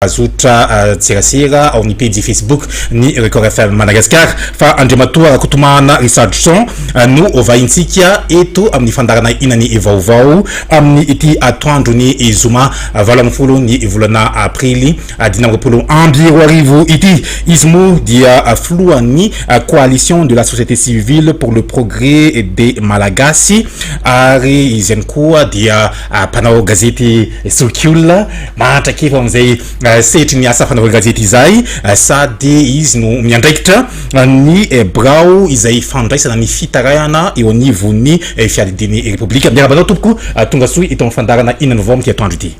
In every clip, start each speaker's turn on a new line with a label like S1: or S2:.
S1: Azotra tserasera ao amin'ny pejy Facebook ny Record FM Madagasikara fa Andriamatoa Rakotomahana Richardson no hovahintsika eto amin'ny fandaharana Inany vaovao amin'ny ity atoandron'ny zoma valo ambin'ny folo ny volana aprily dimy amby roapolo amby roa arivo ity. Izy moa dia filohan'ny Coalition de la société civile pour le progrès des Malagasy ary izy ihany koa dia Mpanao gazety zoky olona, mahantra kely ho amin'izay sehatry ny asa fanaovan-gazety izay, sady izy no miandraikitra ny birao izay fandraisana ny fitarainana eo anivon'ny Fiadidian'ny Repoblika. Miarahaba anao tompoko, tonga soa eto amin'ny fandaharana Inona no Vaovao amin'ity atoandro ity.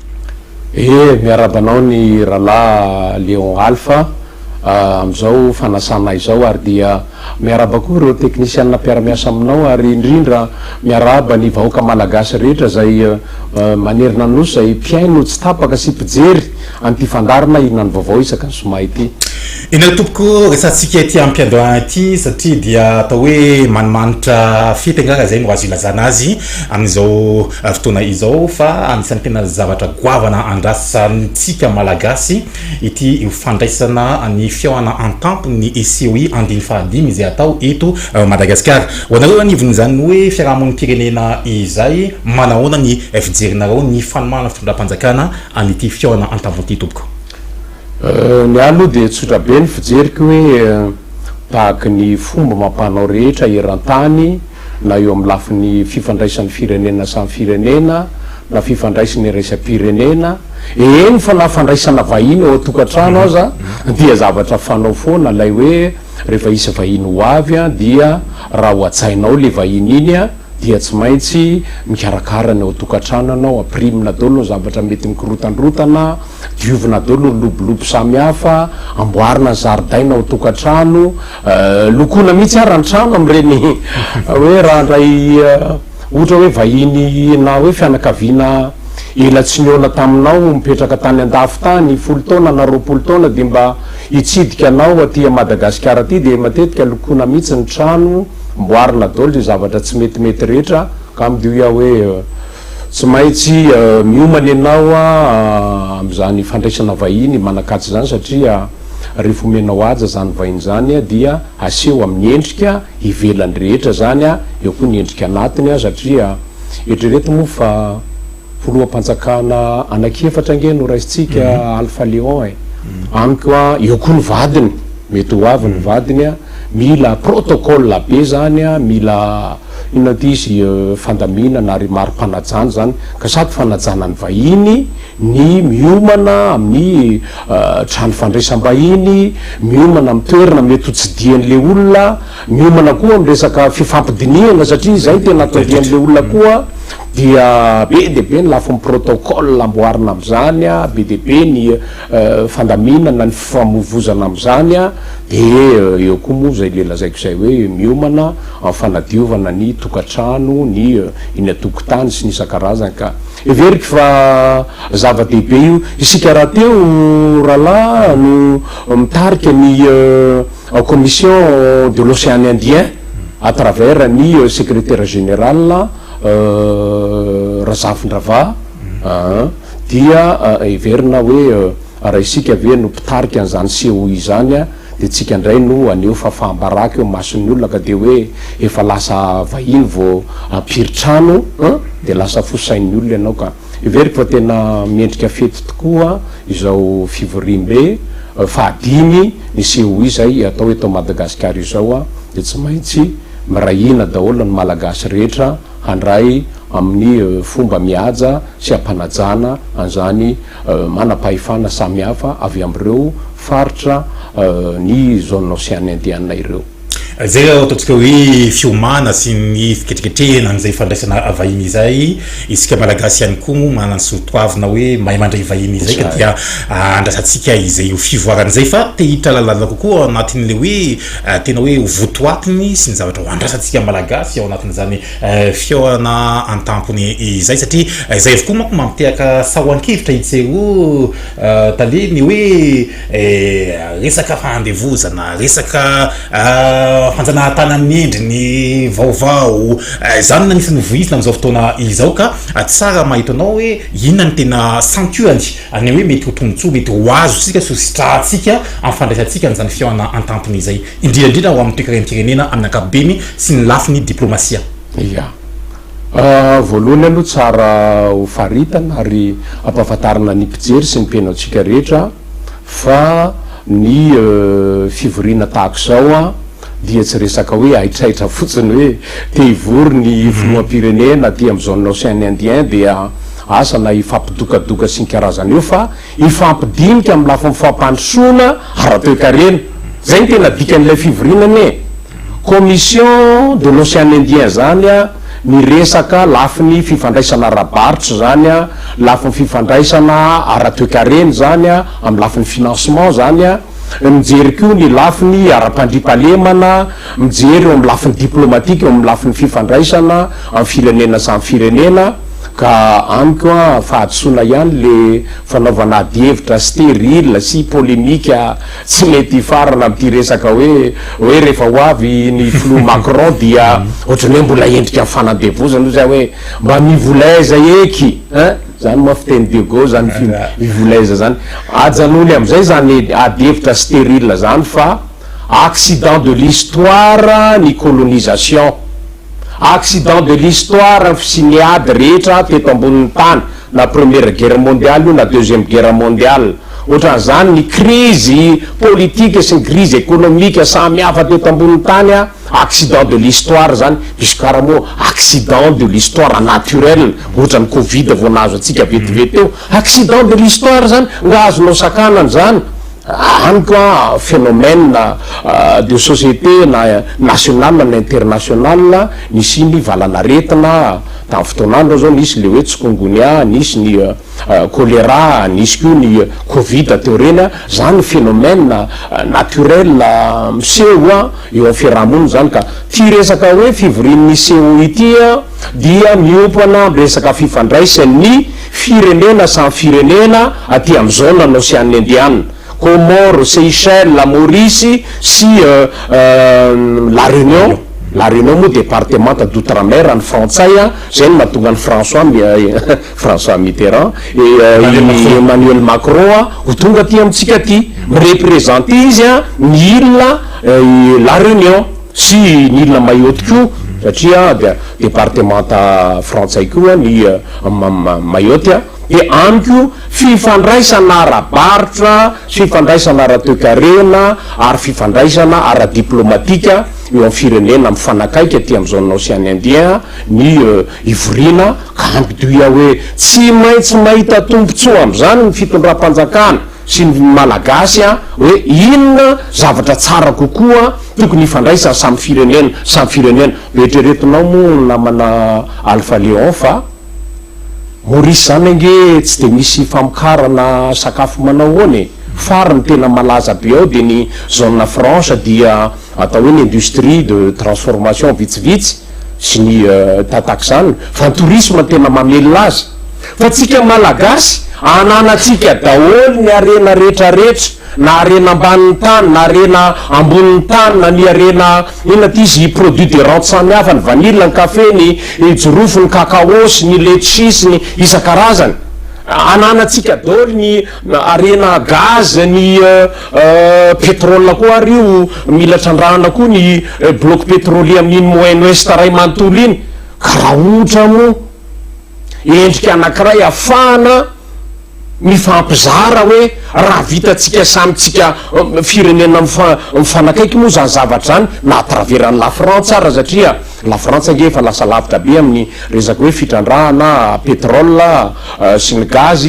S1: Ee, miarahaba
S2: anao ny Ralaha Léon Alpha, amin'izao fanasana izao ary dia. Miarahaba koa ireo teknisianina mpiara-miasa aminao ary indrindra miarahaba ny vahoaka malagasy rehetra izay manerina ny nosy izay mpihaino tsy tapaka sy mpijery an'ity fandaharana Inona no vaovao isaky ny zoma ity. Inona no tompoko
S1: resahantsika ity ampiandohana ity satria dia atao hoe manimanitra fety angamba izay no azo ilazana azy amin'izao fotoana izao fa anisan'ny tena zavatra goavana andrasantsika malagasy Ity ho fandraisana ny fihaonana an-tampon'ny COI andiany fahadimy izay hatao eto Madagasikara. Ho anareo anivon'izany hoe fiarahamonim-pirenena izay, manahoana ny fijerinareo ny fanomana fitondram-panjakana an'ity fihaonana an-tampony ity tompoko?
S2: Ny ahy aloha dia tsotra be ny fijeriko hoe tahaka ny fomba amam-panao rehetra eran-tany, na eo amin'ny lafiny fifandraisan'ny firenena samy firenena na fifandraisina iraisam-pirenena, eny fa na fandraisana vahiny ao an-tokantrano aza dia zavatra fanao foana ilay hoe rehefa hisy vahiny ho avy dia raha ao an-tsaina ao ilay vahiny iny dia tsy maintsy mikarakara ny ao an-tokantrano ianao, ampirimina daholo ny zavatra mety mikorontandrontana, diovina daholo ny lobolobo samihafa, amboarina ny zaridaina ao an-tokantrano, Lokoina mihitsy ara ny trano amin'ireny hoe raha handray ohatra hoe vahiny na hoe fianakaviana ela tsy nihaona taminao mipetraka tany an-dafy tany folo taona na roapolo taona dia mba hitsidika anao aty Madagasikara aty dia matetika lokoina mihitsy ny trano, amboarina daholo izay zavatra tsy metimety rehetra ka midio hoe. Tsy maintsy miomana ianao amin'izany fandraisana vahiny manan-kaja izany satria rehefa omenao haja izany vahiny izany dia aseho amin'ny endrika ivelany rehetra izany, eo koa ny endrika anatiny satria eritrereto moa fa filoham-panjakana anankiefatra ange no raisintsika Alpha Léon e! amiko an! eo koa ny vadiny, mety ho avy ny vadiny, mila protocole be izany, mila. Inona ity izy fandaminana ary mari-panajana izany ka sady fanajana ny vahiny ny miomana amin'ny trano fandraisam-bahiny, miomana amin'ny toerana mety ho tsidihan'ilay olona, miomana koa amin'ny resaka fifampidinihana satria izay no tena atorian'ilay olona koa dia be dia be ny lafiny protocole amboarina amin'izany, be dia be ny fandaminana ny fifamoivozana amin'izany dia eo koa moa izay le lazaiko izay hoe miomana Amin'ny fanadiovana ny tokantrano, ny eny an-tokotany sy ny isan-karazany ka. Heveriko fa zava-dehibe io. Isika rahateo rahalahy no mitarika ny Commission de l'Océan Indien à travers ny Secrétaire Général Razafindrava aa. Dia heverina hoe raha isika ve no mpitarika an'izany seau izany. Dia tsika indray no haneho fahafaham-baraka eo mason'ny olona ka dia hoe efa lasa vahiny vao hampiry trano an! Dia lasa fo sain'ny olona ianao ka. Heveriko fa tena mendrika fety tokoa izao fivoriambe fahadimy ny COI izay hatao eto Madagasikara izao an! Dia tsy maintsy miray hina daholo ny Malagasy rehetra handray amin'ny fomba mihaja sy hampanajana an'izany manam-pahefana samihafa avy amin'ireo faritra ny Zone Ocean Indiana ireo. Izay ataontsika
S1: hoe fiomana sy ny fiketriketrehina an'izay fandraisana vahiny izay, isika Malagasy ihany koa moa manana ny soatoavina hoe mahay mandray vahiny izay ka dia andrasantsika izay ho fivoarany izay fa te hitralalana kokoa ao anatin'ilay hoe tena hoe ho votoatiny sy ny zavatra ho andrasantsika Malagasy ao anatin'izany Fihaonana an-tampony izay satria izay avokoa manko mampitehaka fahoankevitra i Tseho Tale ny hoe resaka fahandevozana, resaka fanjanahantany amin'ny endriny vaovao, izany no anisan'ny voizina amin'izao fotoana izao ka tsara mahita anao hoe inona no tena santionany an'io hoe mety ho tombontsoa mety ho azontsika sy ho sitrahantsika amin'ny fandraisantsika an'izany fihaonana an-tampony izay. indrindra indrindra ho amin'ny toekarem-pirenena amin'ny ankapobeny sy ny lafiny diplaomasia. Ia.
S2: Voalohany aloha tsara ho faritana ary ampahafantarina ny mpijery sy ny mpihainoantsika rehetra fa ny fivoriana tahaka izao dia tsy resaka hoe haitraitra fotsiny hoe te hivory ny filoham-pirenena aty amin'ny zone Ocean Indien dia asa na hifampidokadoka sy ny karazany io fa Hifampidinika amin'ny lafiny fampandrosoana ara-toekarena. Izay no tena dikan'ilay fivoriana anie. Commission de l'Ocean Indien izany miresaka lafiny fifandraisana ara-barotra izany, lafiny fifandraisana ara-toekarena izany, amin'ny lafiny financement izany. Mijery koa ny lafiny ara-pandriampahalemana, mijery eo amin'ny lafiny diplomatika, eo amin'ny lafiny fifandraisana amin'ny firenena samy firenena. Ka amiko an, fahadisoana ihany le fanaovana adihevitra stérile sy polémique tsy mety hifarana amin'ity resaka hoe hoe rehefa ho avy ny filoha Macron dia ohatran'ny hoe mbola endrika fanandevozana io zay hoe mba mivolaiza eky ein, zany moa fiteny de gauche zany fi mivolaiza zany. Ajanony amin'izay zany adihevitra stérile zany fa accident de l'histoire ny colonisation. Accident de l'histoire sy ny ady rehetra teto ambonin'ny tany na première guerre mondiale io na deuxième guerre mondiale otran'izany ny crise politique sy ny crise économique samy hafa teto ambonin'ny tany a accident de l'histoire zany misy kara moa accident de l'histoire naturel ohatran'ny covid vao nahazo antsika vetivety teo accident de l'histoire zany nga azonao sakanana zany Amiko a phénomène de société na national na international nisiany valan'aretina tamin'ny fotoan'andro aho zao nisy le hoe tsikongonia, nisy ny choléra, nisy koa ny covid teo reny a, zany phénomène naturel miseho eo amin'ny fiaraha-monina zany ka ty resaka hoe fivorian'ny CO ity dia miompana amin'ny resaka fifandraisan'ny. Firenena samy firenena aty am zone an Ocean Indian, Comores, Seychelles, Maurice sy La Réunion, La Réunion moa département d'outre mer any frantsay an, zay no mahatonga an'i François François Mitterrand et Emmanuel Macron an ho tonga aty amintsika aty, mi-representer izy an ny île La Réunion. Sy ny Ile Mayotte koa satria dia departemanta frantsay koa ny Mayotte dia any koa fifandraisana ara-barotra, fifandraisana ara-toekarena ary fifandraisana ara-diplaomatika eo amin'ny firenena mifanakaiky aty amin'ny Zone Ocean Indien ny hivoriana ka ampitoy aho hoe tsy maintsy mahita tombotsoa amin'izany ny fitondram-panjakana sy ny Malagasy hoe inona zavatra tsara kokoa tokony hifandraisany samy firenena samy firenena. Eritreretinao moa ny namana Alpha Léon fa Maurice izany ange tsy dia misy famokarana sakafo manao ahoana e? Fary ny tena malaza be ao dia ny zone franche dia atao hoe ny industrie de transformation vitsivitsy. sy ny tatak'izany fa ny tourisme no tena mamelona azy fa tsika malagasy ananatsika daholo ny harena rehetra rehetra na harena ambanin'ny tany na harena ambonin'ny tany na ny harena inona ty izy produit de rente samy hafa ny vanille ny café ny jirofo ny cacao sy ny letchi sy ny isan-karazany ananatsika daholo ny Harena gaz ny petrol koa ary io mila trandrahana koa ny bloc petrolier amin'iny moyen ouest ray manontolo iny ka raha ohatra moa endrika anakiray hafahana mifampizara hoe raha vitantsika samy tsika firenena mifanakaiky moa zany zavatra zany na à travers an'i lafrantsa ara satria lafrantsa ange efa lasa lavitra be amin'ny resaka hoe fitrandrahana petrol sy ny gaz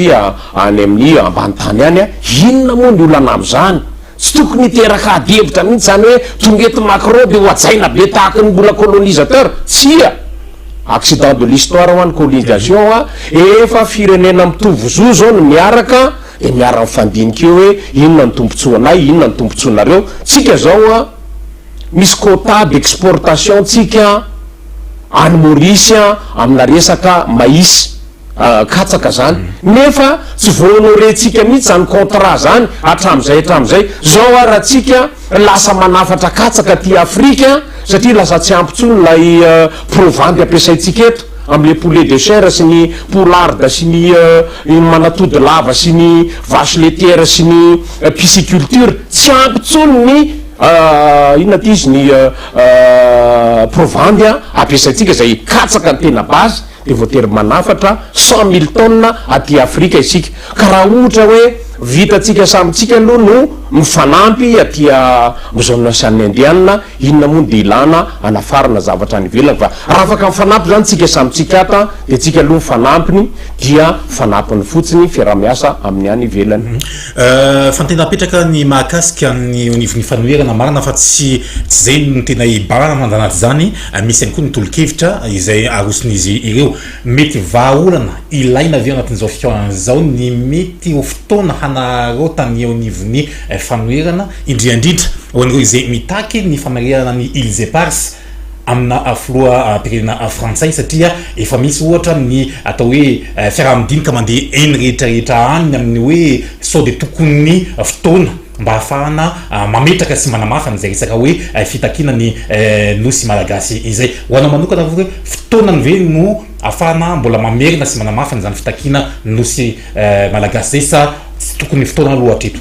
S2: Any amin'ny ambany tany any, inona moa ny olana amin'izany? Tsy tokony hiteraka adihevitra mihitsy izany hoe tonga eto Macron dia hohajaina be tahaka ny mbola colonisateur? Tsia! Accident de l'histoire hoa ny colonisation hoa, efa firenena mitovy zo izao no miaraka dia miara-mifandinika eo hoe inona ny tombotsoanay, inona ny tombotsoanareo? Tsika izao hoa, misy quota d'exportation tsika any Maurice amina resaka mais. katsaka zany nefa tsy vo honorer tsika mihitsy zany contrat zany atramzay atramzay zao ary atsika lasa manafatra katsaka aty afrika satria lasa tsy ampy tsony lay provandy ampiasaitsika eto amle poulet de chair sy ny poulard sy ny iny manatody lava sy ny vache letière sy ny pisciculture tsy ampy tsony ny inona ty izy ny provandy ampiasaitsika zay katsaka ny tena base dia voatery manafatra cent mille tonnes aty Afrika isika, ka raha ohatra hoe vitantsika samy tsika aloha no mifanampy aty amzone Ocean Indian, inona moa no dia ilana anafarana zavatra any ivelany fa raha afaka mifanampy zany tsika samy tsika at dia tsika aloha mifanampy dia fanampiny fotsiny fiarahamiasa amin'ny any ivelany. Fa ny tena
S1: apetraka ny mahakasika ny onivon'ny fanoherana marina fa tsy tsy izay no tena hibahan andanat'izany misy ihany koa ny tolokevitra izay aroson'izy ireo. Mety vahaolana ilaina ve ao anatin'izao fikaohana izao ny mety ho fotoana hanararaotan'ny eo anivon'ny fanoherana indriandrindra ho an'ireo izay mitaky ny famerenana ny Îles Éparses amina filoham-pirenena frantsay satria efa misy ohatra ny atao hoe fiaraha-midinika mandeha eny rehetra rehetra any amin'ny hoe sao dia tokony fotoana mba hahafahana mametraka sy manamafy an'izay resaka hoe fitakiana ny nosy malagasy izay. Ho anao manokana ve hoe fotoanany ve no hahafahana mbola mamerina sy manamafy an'izany fitakiana ny nosy malagasy izay sa tsy tokony fotoana aloha hatreto?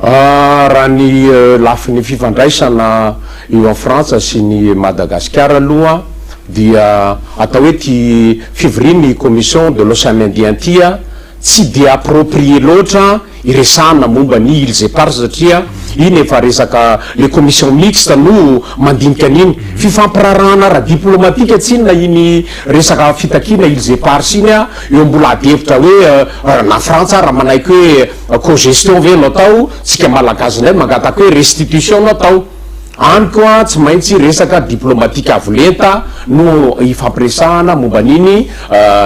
S2: Raha ny lafiny fifandraisana Io an'i Frantsa sy ny Madagasikara aloha dia atao hoe ity fivorian'ny Commission de l'Océan Indien ity tsy dia approprié loatra hiresahana momba ny îles éparses satria iny efa resaka le commission mixte no mandinika an'iny. Fifampiraharahana ara-diplomatika tsinona iny resaka fitakiana îles éparses iny eo mbola ady hevitra hoe na Frantsa ary manaiky hoe Cogestion ve no atao, tsika Malagasy ndray mangataka hoe restitution no atao, any koa tsy maintsy resaka diplomatique avo lenta no hifampiresahana momba an'iny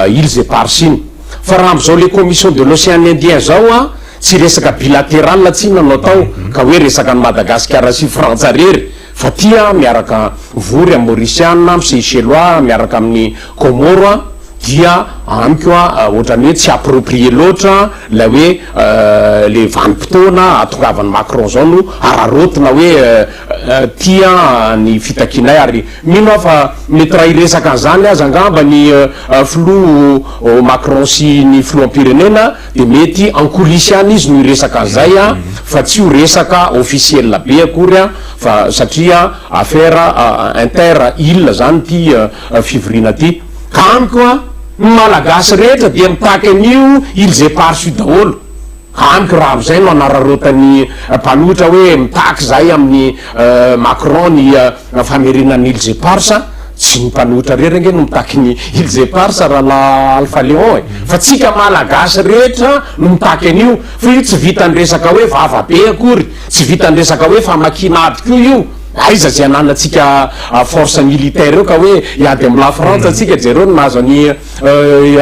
S2: îles éparses iny, fa raha amzao le commission de l'océan indien zao an, tsy resaka bilateral tsinona no atao ka hoe resaka an'i Madagasikara sy Frantsa rery, Fatia miaraka vory amin'ny Mauriciana amin'ny Seychellois miaraka amin'ny Comoro a dia amiko a ohatran'ny hoe tsy approprié loatra ilay hoe le vanim-potoana ahatongavan'i Macron zao no araraotina hoe tia ny fitakianay ary mino aho fa mety raha hiresaka an'izany aza angamba ny filoha Macron sy ny filoham-pirenena Dia mety en coulisses any izy no hiresaka an'izay an, fa tsy ho resaka officiel be akory an, fa satria affaire inter îles izany ity fivoriana ity. Ka amiko an, ny Malagasy rehetra dia mitaky an'io îles éparses daholo. Ka amiko raha izay no anararaotan'ny mpanohitra hoe mitaky izahay amin'ny Macron ny Raha fanerena an'i Îles Éparses, tsy ny mpanohitra rery ange no mitaky ny Îles Éparses Rahalahy Alpha Léon e! Fa tsika Malagasy rehetra no mitaky an'io! Fa io tsy vitan'ny resaka hoe vava be akory, tsy vitan'ny resaka hoe famakiana ady koa io! Aiza izay ananantsika force militaire eo ka hoe hiady amin'i La Frantsa antsika? Jereo ny nahazo an'i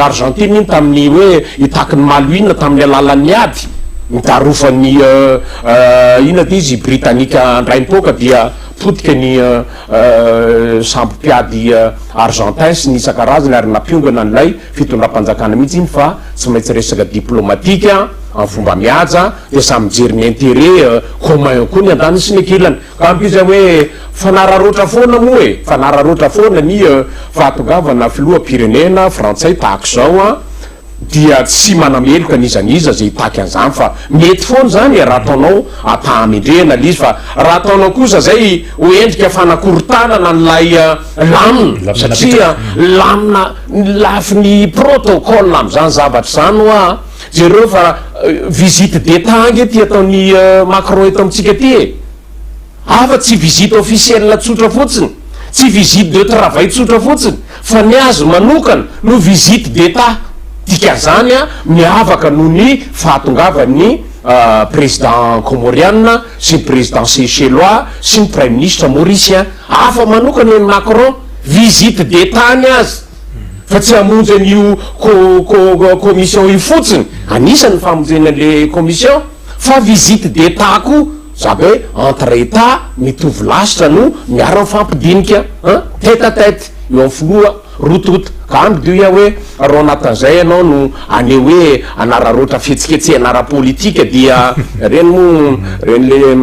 S2: Argentine iny tamin'ny hoe hitaky ny Malouines tamin'ny alalan'ny ady nidarofan'ny inona ity izy? Britannica handray ny poaka dia Potika ny sambo mpiady Argentins ny isan-karazany ary nampiongana an'ilay fitondram-panjakana mihitsy iny fa tsy maintsy resaka diplomatique amin'ny fomba mihaja dia samy mijery ny intérêt commun koa ny andaniny sy ny ankilany ka amiko izay hoe fanararaotra foana moa e! fanararaotra foana ny fahatongavana filoham-pirenena frantsay tahak'izao an! dia tsy manameloka n'iza n'iza izay hitaky an'izany fa mety foana izany e, raha ataonao ampahamendrehana ilay izy fa raha ataonao kosa izay ho endrika fanakorontanana an'ilay lamina satria lamina ny lafiny protocole amin'izany zavatra izany hoa jereo fa visite d'Etat ange ity ataon'i Macron eto amintsika ity e! Afa tsy visite officielle tsotra fotsiny, tsy visite de travail tsotra fotsiny fa ny azy manokana no visite d'Etat, dikazany miavaka noho ny fahatongavan'ny Président Comoriana sy ny Président Seychellois sy ny Praiminisitra Mauricien. Hafa manokana i Macron, visite d'Etat ny azy fa tsy hamonjy an'io co-co commission io fotsiny, anisany ny famonjena an'ilay commission, fa visite d'Etat koa. Zaka hoe entre Etat mitovy lasitra no miara mifampidinika an tête à tête eo amin'ny filoha roa tonta ka hany dia hoy aho hoe raha ao anatin'izay ianao no haneho hoe hanararaotra fihetsiketsehana ara-politika dia ireny moa ireny le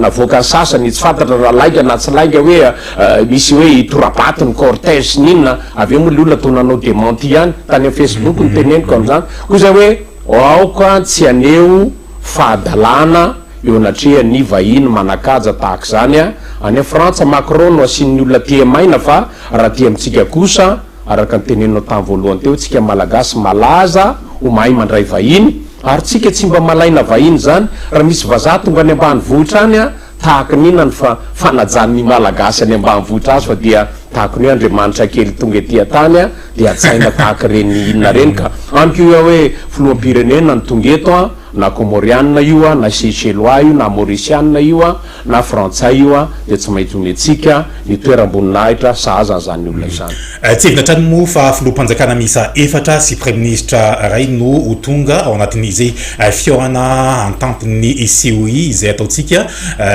S2: navoakan'ny sasany tsy fantatra raha lainga na tsy lainga hoe misy hoe hitora-bato ny cortège sy ny inona avy eo moa le olona toa nanao dementi ihany tany amin'ny facebook no teneniko amin'izany koa izay hoe aoka tsy haneho fahadalana eo anatrehan'ny vahiny manakaja tahaka izany any a Frantsa, Macron no asian'ny olona tia maina fa raha aty amintsika kosa, araka ny teneninao tany voalohany teo, tsika malagasy malaza ho mahay mandray vahiny, ary tsika tsy mba malaina vahiny izany, raha misy vazaha tonga any ambanivohitra any a, Tahaka ny inona ny fa fanajan ny malagasy any ambanivohitra azy fa dia tahaka ny hoe Andriamanitra kely tonga ety an-tany an dia hajaina tahaka ireny inona ireny ka. Amiko io hoe filoham-pirenena no tonga eto an, na Kômôrianina io an, na Seychellois io, na Maorisianina io an, na Frantsay io an dia tsy maintsy omentsika ny toeram-boninahitra sahaza an'izany olona izany. Hetsehina hatrany moa
S1: fa filoham-panjakana miisa efatra sy praiminisitra iray no ho tonga ao anatin'izay fihaonana an-tampon'ny COI izay ataontsika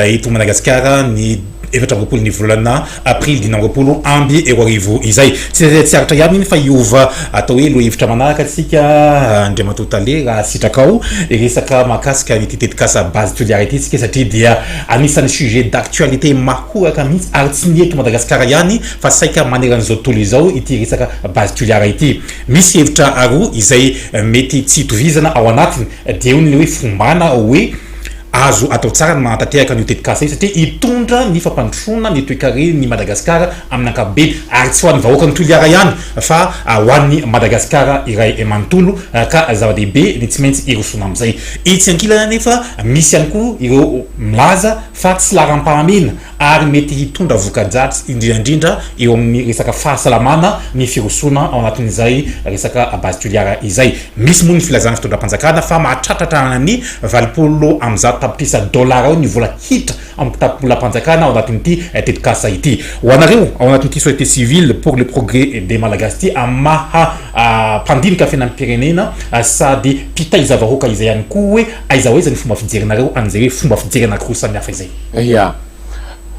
S1: eto Madagasikara ny efatra amby roapolon'ny volana aprily dimy amby roapolo amby roa arivo izay. Tsy aritra ihany iny fa hiova atao hoe lohahevitra manaraka isika Andriamatoa Tale raha sitrakao hiresaka mahakasika an'ity tetikasa Base Toliara ity isika satria dia anisan'ny sujet d'actualité mahoraka mihitsy ary tsy ny eto Madagasikara ihany fa saika maneran'izao tontolo izao ity resaka base Toliara ity. Misy hevitra roa izay mety tsy itovizana ao anatiny, dia eo ny ilay hoe fombana hoe azo atao tsara ny manatanteraka an'io tetikasa io satria hitondra ny fampandrosoana ny toekaren'i Madagasikara amin'ny ankapobeny ary tsy ho an'ny vahoakan'i Toliara ihany fa ho an'i Madagasikara iray manontolo ka zava-dehibe ny tsy maintsy hirosoana amin'izay. Etsy ankilany anefa misy ihany koa ireo milaza fa tsy laharam-pahamehana ary mety hitondra voka-dratsy indrindraindrindra eo amin'ny resaka fahasalamana ny firosoana ao anatin'izay resaka base tuliare izay. Misy moa ny filazan'ny fitondram-panjakana fa mahatratratra any valopolo amby zato tapitrisa dolara eo ny vola hiditra amin'ny kitapolam-panjakana ao anatin'ity tetikasa ity. Ho anareo ao anatin'ity société civile pour le progrès des Malagasy ity amin'ny maha mpandinika fiainam-pirenena sady mpitaiza vahoaka izay ihany koa hoe aiza ho aiza ny fomba fijerinareo an'izay hoe fomba fijery anankiroa samihafa izay? Ia.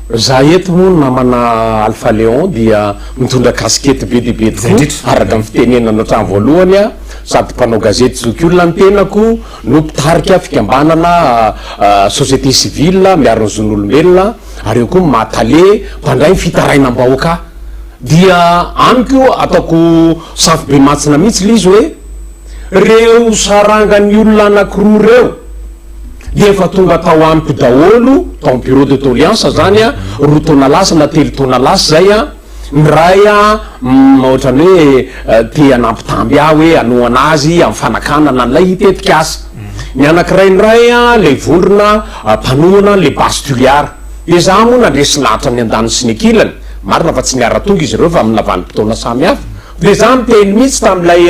S2: Za eto moa namana Alpha Léon dia mitondra casquette be dia be tokoa. Izay indrindra. Araka ny fitenenana hatrany voalohany aho, sady mpanao gazety zokiolona ny tenako no mpitarika fikambanana société civile miaro ny zon'olombelona ary eo koa maha tale mpandray ny fitarainam-bahoaka ahy. Dia amiko ataoko safo be mantsina mihitsy ilay izy hoe. Reo sarangan'ny olona anakiroa ireo dia efa tonga tao amiko daholo, tao am bureau de doleance zany a, roa taona lasa na telo taona lasa zay a, ny ray a ohatran'ny hoe te hanampitamby ahy hoe hanohana azy am fanakanana an'ilay tetikasa, ny anakiray ndray a le vondrona mpanohana an'le base Toliara, de za moa nandresy lahatra ny andaniny sy ny ankilany, marina fa tsy niara-tonga izy ireo fa am lavanimpotoana samy hafa, Dia izaho niteny mihitsy tamin'ilay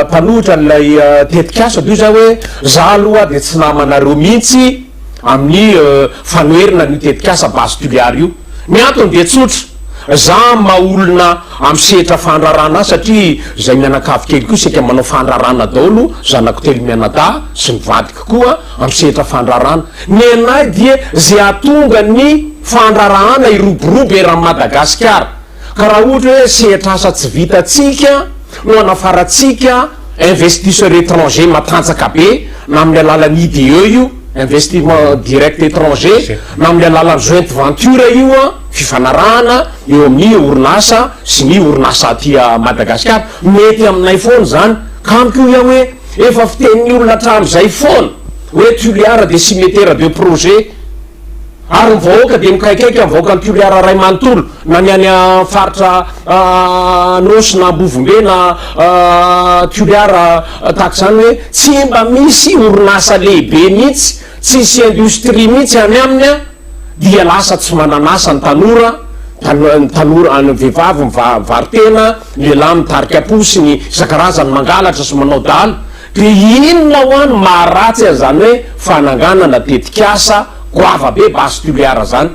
S2: mpanohitra an'ilay tetikasa toy izao hoe, izaho aloha dia tsy namanareo mihitsy amin'ny fanoherana an'io tetikasa Base Tuléar io. Ny antony dia tsotra, izaho maha-olona amin'ny sehatra fandrarana ahy satria izay mianakavy kely koa saika manao fandrarana daholo, zanako telo mianadahy sy ny vadiko koa amin'ny sehatra fandrarana. Ny anay dia izay hahatonga ny fandrarahana hiroborobo eran'i Madagasikara. Ka raha ohatra hoe sehatr'asa tsy vitantsika no hanafarantsika investisseurs étrangers matanjaka be na amin'ny alalan'ny IDE io, investissement direct étranger, na amin'ny alalan'ny joint venture io, fifanarahana eo amin'ny orinasa sy ny orinasa aty Madagasikara, mety aminay foana izany. Ka amiko hoy aho hoe efa fitenin'ny olona hatramin'izay foana hoe Toliara dia cimetera de projet. Ary ny vahoaka dia mikaikaika ny vahoakan'i Toliara iray manontolo, na ny any amin'ny faritra Anôsy na Ambovombe na Toliara tahaka izany hoe tsy mba misy orinasa lehibe mihitsy, tsy misy indostria mihitsy any aminy dia lasa tsy manan'asa ny tanora, ny tanora, ny vehivavy mivaro-tena, ny lehilahy mitarika posy, ny isan-karazany mangalatra sy manao dala. Dia inona hoa no maharatsy an'izany hoe fananganana tetik'asa goava be base toliara izany?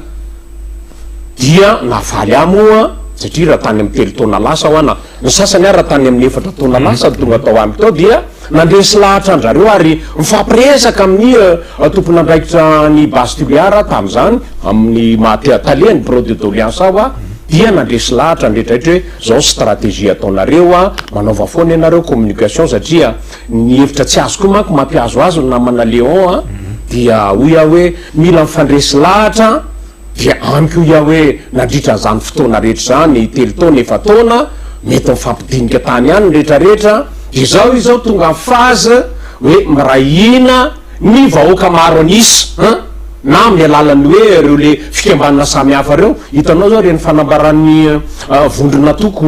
S2: Dia navaly ahy moa, satria raha tany amin'ny telo taona lasa hoa na ny sasany ary raha tany amin'ny efatra taona lasa no tonga tao amiko tao dia nandresy lahatra an-dRareo ary nifampiresaka amin'ny tompon'andraikitra ny base toliara tamin'izany amin'ny maha talehan'ny birao de doleansa aho dia nandresy lahatra an-dRetraretra hoe Zao stratégie ataonareo a, manaova foana ianareo communication satria ny hevitra tsy azo koa manko mampihazo azy ny namana Léon a, dia hoy aho hoe mila mifandresy lahatra a, dia amiko hoy aho hoe nandritra an'izany fotoana rehetra izany, telo taona, efa-taona, mety mifampidinika tany ihany ny rehetra rehetra, dia zao izy zao tonga phase hoe miray hina, Ny vahoaka maro an'isa an! Na amin'ny alalan'ny hoe ireo le fikambanana samy hafa ireo. Hitanao zao ireny fanambaran'ny vondron'antoko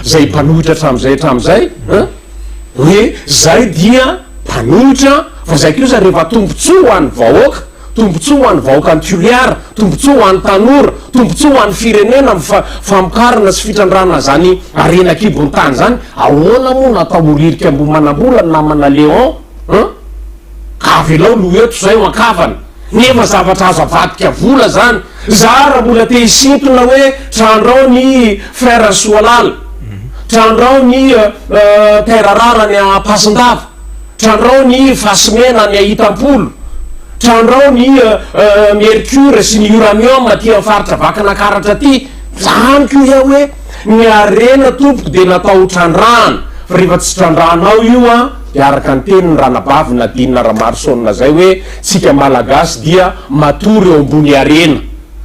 S2: izay mpanohitra hatramin'izay hatramin'izay an! Hoe zay dia mpanohitra fa zay kosa rehefa tombotsoa ho an'ny vahoaka, tombotsoa ho an'ny vahoakan'i Toliara, tombotsoa ho an'ny tanora, tombotsoa ho an'ny firenena amin'ny fa famokarana sy fitrandrahana izany harena an-kibon'ny tany izany. Ahoana moa no atao ho ririka ambony manambola ny namana Léon? An! Ka avelao ny ho eto zay ho an-kavana. Nefa zavatra azo avadika vola zany. Za raha mbola te hisintona hoe trandrao ny frère Soalala, trandrao ny père Rara any Ampasindava, trandrao ny Fasimena any Ahitam-polo, trandrao ny mercure sy ny uranium aty am faritra Vakinakaratra aty, za amiko iha hoe ny harena tompoko dia natao ho trandrahana, fa rehefa tsy trandrahanao io an! dia araka ny tenin'i Ranabavy Nadine Ramaroson izay hoe tsika Malagasy dia matory eo ambony harena,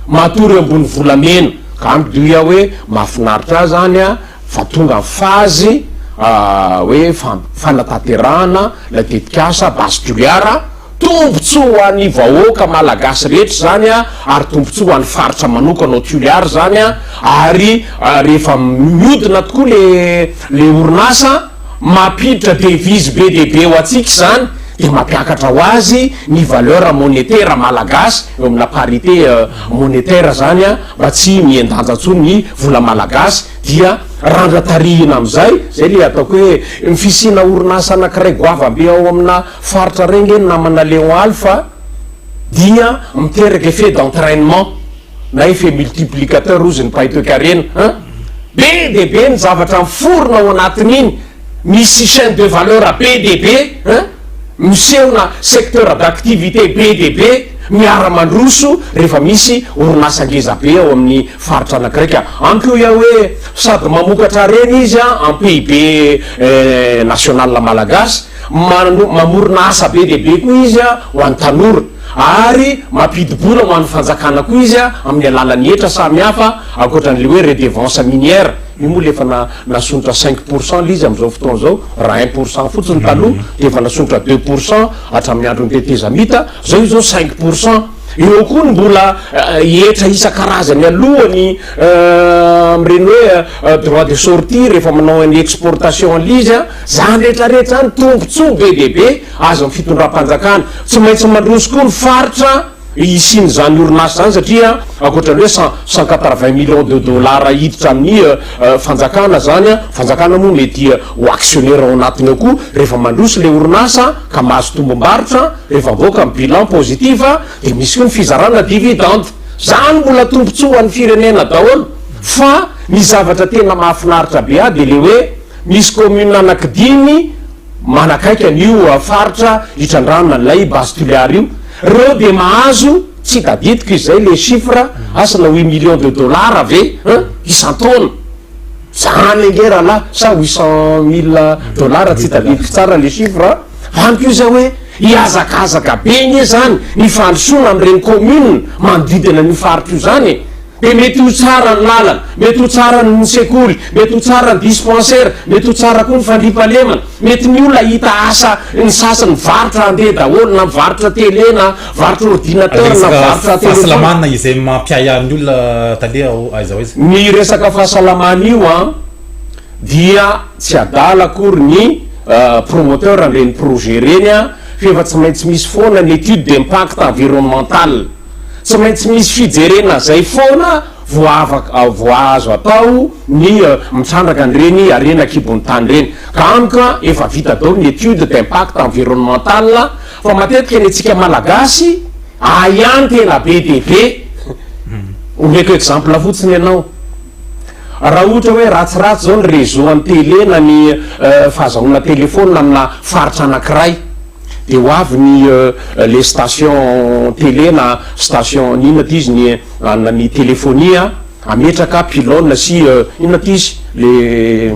S2: matory eo ambony volamena, ka amiko dia hoe mahafinaritra ahy izany fa tonga ny fazy hoe fanatanterahana ilay tetikasa Base Toliara, Tombotsoa ho an'ny vahoaka Malagasy rehetra izany ary tombotsoa ho an'ny faritra manokana ao Toliara izany ary rehefa mihodina tokoa ilay orinasa mampiditra devise be dia be ho antsika izany dia mampiakatra ho azy ny valeur monetaire Malagasy eo amina parité monetaire izany mba tsy mihen-danja intsony ny vola Malagasy dia randra tarihina amin'izay izay ilay ataoko hoe ny fisiana orinasa anankiray goavambe ao amina Faritra re nge namana Léon Alpha dia miteraka effet d'entrainement na effet multiplicateur ozy ny pahitoekarena a! Be dia be ny zavatra miforona ao anatin'iny, misy chaine de valeur be dia be a! Misehona secteur d'activité be dia be miara mandroso rehefa misy orinasa ngeza be ao amin'ny faritra anankiray ka antoko ia hoe sady mamokatra harena izy a en PIB national malagasy Mano, mamorona asa be dia be koa izy ho an'ny tanora, ary mampidi-bola ho an'ny fanjakana koa izy amin'ny alalan'ny hetra samy hafa, ankoatra an'ilay hoe redevance minière, io moa ilay efa na, nasondrotra cinq pour cent ilay izy amin'izao fotoana izao, raha un pour cent fotsiny taloha, dia efa nasondrotra deux pour cent hatramin'ny andron'ny tetezamita, izao izy izao cinq pour cent. Eo koa ny mbola hetra isan-karazany alohany amin'ireny hoe droit de sortie rehefa manao ny exportation an'ilay izy, Izany rehetra rehetra izany tombotsoa be dia be azon'ny fitondram-panjakana. Tsy maintsy mandroso koa ny faritra hisian'izany orinasa izany satria ankoatra ny hoe cent cent quatre vingt millions de dollars hiditra amin'ny fanjakana izany, ny fanjakana moa mety ho actionnaire ao anatiny ao koa, rehefa mandroso ilay orinasa ka mahazo tombom-barotra, rehefa avoaka ny bilan positif dia misy koa ny fizarana dividende. Izany mbola tombotsoa ho an'ny firenena daholo fa ny zavatra tena mahafinaritra be ahy dia ilay hoe. Misy commune anaky dimy manakaiky an io faritra Itrandrana, Lay, Base Toliara io, reo dia mahazo, tsy tadidiko izay le chiffre, asa na huit millions de dollars ve an isan-taona, zany ange rahalahy, sa huit cent mille dollars tsy tadidiko tsara le chiffre an, hany ko zay hoe hihazakazaka be nge zany ny fandrosoana am reny commune manodidina an io faritra io zany e. Dia mety ho tsara ny lalana, mety ho tsara ny sekoly, mety ho tsara ny dispensaire, mety ho tsara koa ny fandriampahalemana, mety ny olona hahita asa, ny sasany mivarotra handeha daholo, na mivarotra tele na mivarotra ordinateur na mivarotra telephone. Resaka fahasalamana izay
S1: mampiahy ahy ny olona tale aiza ho aiza. Ny resaka
S2: fahasalamana io an, dia tsy adala akory ny promoteur an'ireny projet ireny an, f'efa tsy maintsy misy foana ny étude d'impact environnemental. Tsy maintsy misy fijerena zay foana vao azo atao ny mitrandraka an'ireny harena an-kibon'ny tany ireny. Ka amiko efa vita daholo ny étude d'impact environnemental fa matetika ny antsika Malagasy ahy ihany tena be dia be. Omeko exemple fotsiny ianao, raha ohatra hoe ratsiratsy zao ny réseau an'ny télé na ny fahazahoana téléphone amina faritra anankiray, Dia ho avy ny le station télé na station n'inona aty izy ny anona ny telefonia a, ametraka pylone sy inona aty izy le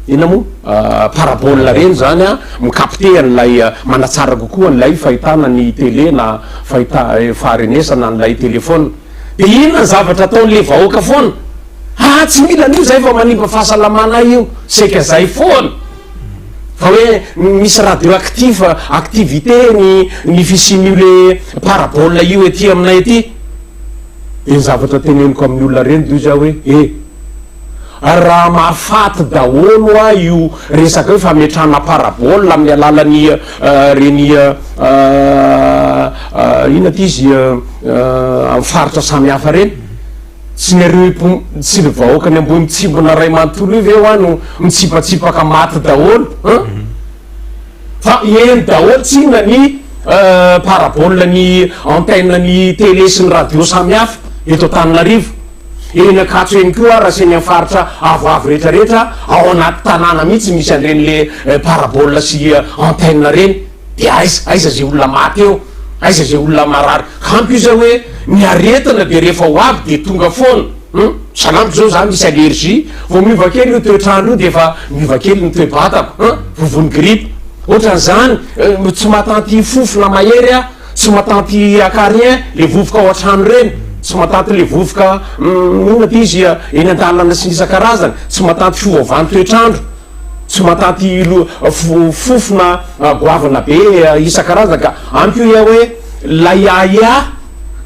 S2: inona moa parabole reny zany a, mi-capter an'ilay manatsara kokoa an'ilay fahitana ny télé na fahita faharenesana an'ilay telephone. Dia inona ny zavatra ataon'le vahoaka foana? Haa tsy mila an'io zay fa manimba fahasalamana ahy io, saika zay foana. Fa hoe misy radioactif, activité ny ny fisian'io le parabole io ety aminay ety, de ny zavatra teneniko amin'ny olona reny doy za hoe e, ary raha mahafaty daholo hoa io resaka io fametrahana parabole amin'ny alalan'ny reny inona ty izy amin'ny faritra samy hafa reny, Tsy ireo tsy ireo vahoaka any Ambohimitsimbona iray manontolo io ve hoa no mitsipatsipaka maty daholo an? Fa heno daholo tsinona ny parabole ny antenne ny télé sy ny radio samihafa eto Antananarivo. Eny Ankatso eny koa ary aseny amin'ny faritra avoavo rehetra rehetra ao anaty tanàna mihitsy misy an'ireny le parabole sy antenne ireny. Dia aiza, aiza izay olona maty eo, aiza izay olona marary? Ampy io izay hoe ny aretina dia rehefa ho avy dia tonga foana, hum, sahala amiko izao za misy allergie, vao miova kely io toetr'andro io dia efa miova kely ny toe-batako, hum, vovon'ny grippe, ohatran'izany, euh, tsy matanty fofona mahery aho, tsy matanty acarien, le vovoka ao an-trano ireny, tsy matanty le vovoka, hum, inona ity izy, eny an-dalana sy ny isan-karazany, tsy matanty fiovaovan'ny toetr'andro, Tsy matanty fofona goavana be isan-karazany ka. Any koa ia hoe lay ahiahy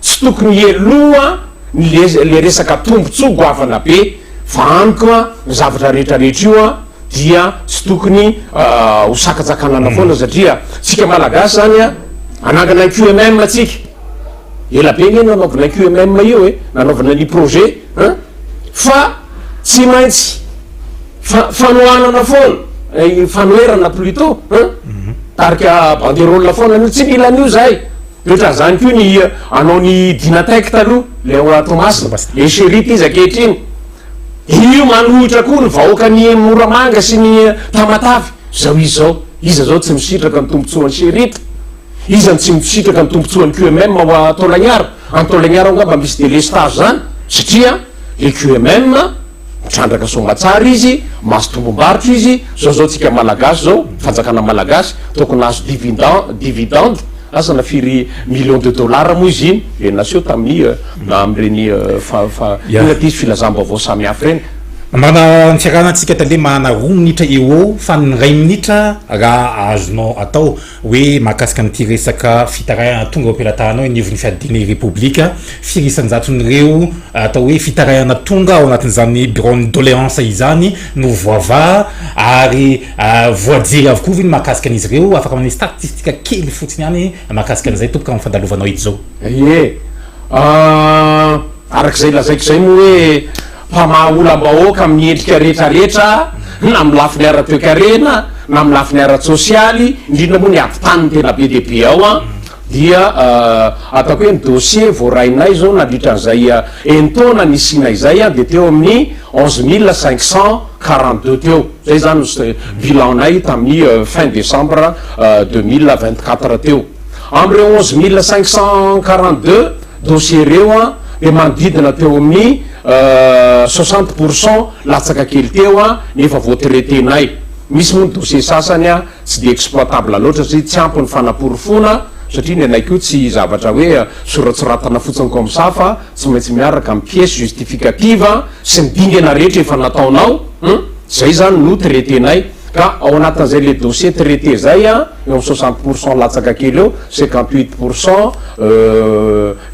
S2: tsy tokony hialoha ny le resaka tombotsoa goavana be fa any koa ny zavatra rehetra rehetra io dia tsy tokony ho sakatsakanana foana satria tsika malagasy zany anangana ny QMM tsika ela be nge nanaovana QMM io e nanaovana ny projet An! Fa tsy maintsy fa fanohanana foana, eh, fanoherana plutot, an! Tarika banderole foana an'io, tsy mila an'io zahay. De ohatran' zany koa ny anao ny Dynatec taloha, le ao a Toamasina, le Chérite izy ankehitriny. Io manohitra koa ny vahoakan'i Moramanga sy ny Tamatave. Zao izy zao, iza zao tsy misitraka ny tombotsoan'i Chérite? Iza no tsy misitraka ny tombotsoan'ny QMM ao a Taolagnaro? Any Taolagnaro angamba misy délestage zany satria le QMM mitrandraka soamatsara izy, mahazo tombombarotra izy, zao zao tsika malagasy zao, fanjakana malagasy tokony hahazo dividan dividende asa na firy millions de dollars moa izy iny dia naseho tamin'ny na amin'ireny fa fa inona ity izy filazam-baovao samy hafa ireny. Mba antsiarana
S1: antsika tale mahana roa minitra eo ho eo fa ny iray minitra raha azonao atao. Hoe mahakasika an'ity resaka fitarahana tonga eo am-pelatahanao eny ivon'ny fiadidiana Irepoblika, firy isan-jaton'ireo atao hoe fitarahana tonga ao anatin'izany biraon'ny doléance izany no voavaha ary voajery avokoa ve ny mahakasika an'izy ireo? Afaka manome statistika kely fotsiny ihany mahakasika an'izay tompoko amin'ny fandalovanao eto izao. Ie,
S2: arak'izay lazaiko izay moa hoe. Mpamaha olam-bahoaka amin'ny endrika rehetrarehetra, na amin'ny lafiny ara-toekarena, na amin'ny lafiny ara-tsosialy, indrindra moa ny ady tany no tena be dia be ao an, dia ataoko hoe ny dossier voarainay izao nandritra an'izay enin-taona nisianay izay dia teo amin'ny onze mille cinq cent quarante deux teo, izay izany no bilan-nay tamin'ny fin décembre deux mille vingt quatre teo. Amin'ireo onze mille cinq cent quarante deux, Dossier ireo dia manodidina teo amin'ny soixante pour cent latsaka kely teo ny efa voatraiter-nay. Misy moa ny dossier sasany tsy dia exploitable loatra satria tsy ampy ny fanaporofoana satria ny anay koa tsy zavatra hoe soratsoratana fotsiny comme ça fa tsy maintsy miaraka amin'ny pièce justificative sy ny dingana rehetra efa nataonao, humm, izay izany no traiter-nay. Ka ao anatin'izay le dossier traité zay an, eo amin'ny soixante pour cent latsaka kely eo, cinquante huit pour cent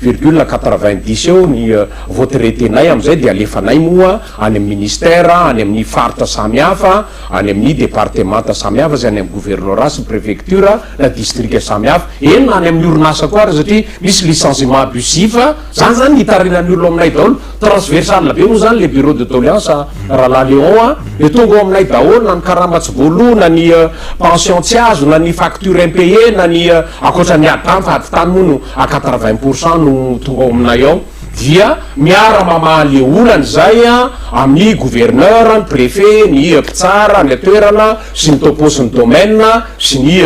S2: virgule quatre vingt dix eo ny voatraitenay amin'izay dia alefanay moa any amin'ny ministère, any amin'ny faritra samy hafa, any amin'ny departemanta samy hafa sy any amin'ny gouvernora sy prefecture na distrika samy hafa, eny na any amin'ny orinasa koa ary satria misy licenciement abusif, zany zany ny itarihan'ny olona ao aminay daholo. Transversale be moa zany le bureau de doleance Rahalahy Léon a, dia tonga ao aminay daholo na ny karama tsy voaloa na ny pension tsy azo na ny facture impayée na ny ankoatra ny ady tany fa ady tany moa no à quatre vingt pour cent no tonga ao aminay ao dia miara mamaha le olana izay amin'ny gouverneur, ny prefet, ny mpitsara any an-toerana sy ny topo's ny domaine sy ny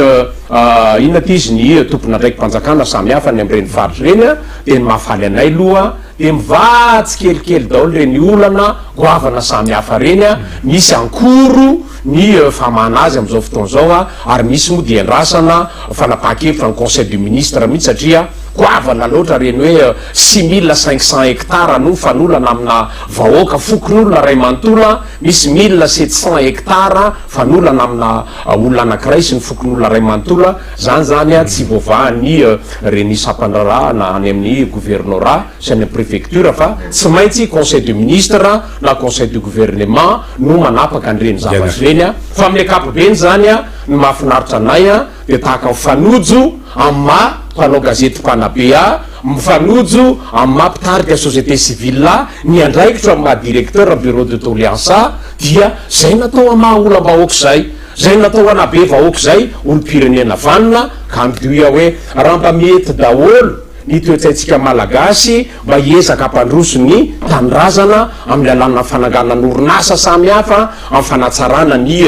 S2: inona ity izy ny tompon'andraiki-panjakana samy hafa any amin'ireny faritra ireny dia ny mahafaly anay aloha Dia mivaha tsikelikely daholo ireny olana goavana samy hafa ireny, misy ankoro ny famahana azy amin'izao fotoana izao ary misy moa dia andrasana fanapahan-kevitra ny conseil de ministre mihitsy satria goavana loatra ireny hoe six mille cinq cents hectares no fanolana amina vahoaka fokonolona iray manontolo, misy mille sept cents hectares. fanolana amina olona anakiray sy ny fokonolona ray manontolo a zany zany a tsy voavahan ny reny sampandrarahana any amin ny governorat sy any amin ny prefecture fa tsy maintsy conseil de ministre na conseil de gouvernement no manapaka an reny zavatra reny a fa amin ny akapobeny zany a ny mahafinaritra anay a dia tahaka mifanojo amin ny maha mpanao gazety mpanabe a mifanojo amin ny maha mpitarika société civile a ny andraikitro amin ny maha directeur bureau de doleance a Dia zay natao hamaha olam-bahoaka izay, zay natao hanabe vahoaka izay olom-pirenena vanona ka hangidio iha hoe raha mba mety daholo ny toe-tsaintsika Malagasy mba hiezaka hampandroso ny tanindrazana amin'ny lalànan'ny fananganana orinasa samy hafa, amin'ny fanatsarana ny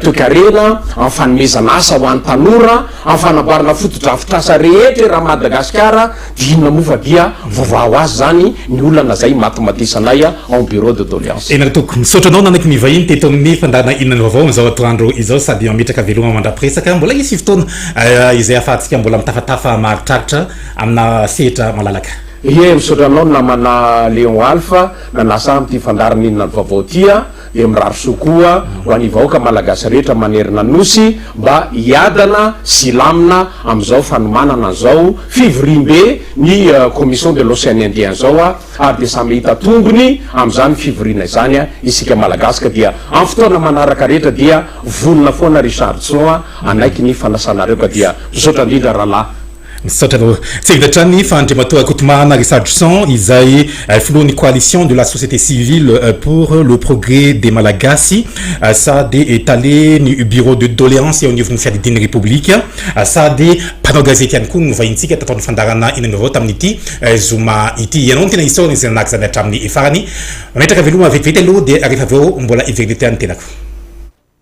S2: toekarena, amin'ny fanomezana asa ho an'ny tanora, amin'ny fanamboarana fotodrafitrasa rehetra eran'i Madagasikara. Inona moa fa dia voavaha ho azy izany ny olana izay imatimatisanay ao Bureau de doléance. Tena toako. Misaotra anao nanaiky
S1: ny vahiny teto amin'ny fandaharana Inona no vaovao amin'izao atoandro izao sady mametraka veloma mandrapiresaka. Mbola hisy fotoana izay hahafahantsika mbola mitafatafa maharitraritra amina sehatra malalaka. Ie, misaotra anao
S2: namana Léon Alpha nanasa ahy amin'ity fandaharana Inona no vaovao ity. Dia mirary soa koa ho an'ny vahoaka malagasy rehetra manerana Nosy mba hiadana sy hilamina amin'izao fanomanana an'izao fivoriambe ny commission de l'Ocean Indien izao ary dia samy hahita tombony amin'izany fivoriana izany isika malagasy ka dia amin'ny fotoana manaraka rehetra dia vonona foana ry Charlson hanaiky ny fanasanareo ka dia misaotra indrindra rahalahy Misaotra anao. Tsy
S1: ela hatrany fa Andriamatoa Rakotomahana Risadrison izay filohan'ny Coalition de la société civile pour le progrès des Malagasy sady tale ny bureau de doléance eo anivon'ny fiadidian'ny Repoblika sady mpanao gazety ihany koa no novahintsika tato amin'ny fandaharana Inona no Vaovao tamin'ity zoma ity. Ianao no tena isaorana izay nanahaka izany hatramin'ny farany. Mametraka veloma vetivety aloha dia rehefa avy eo mbola heverina ety ihany ny tenako.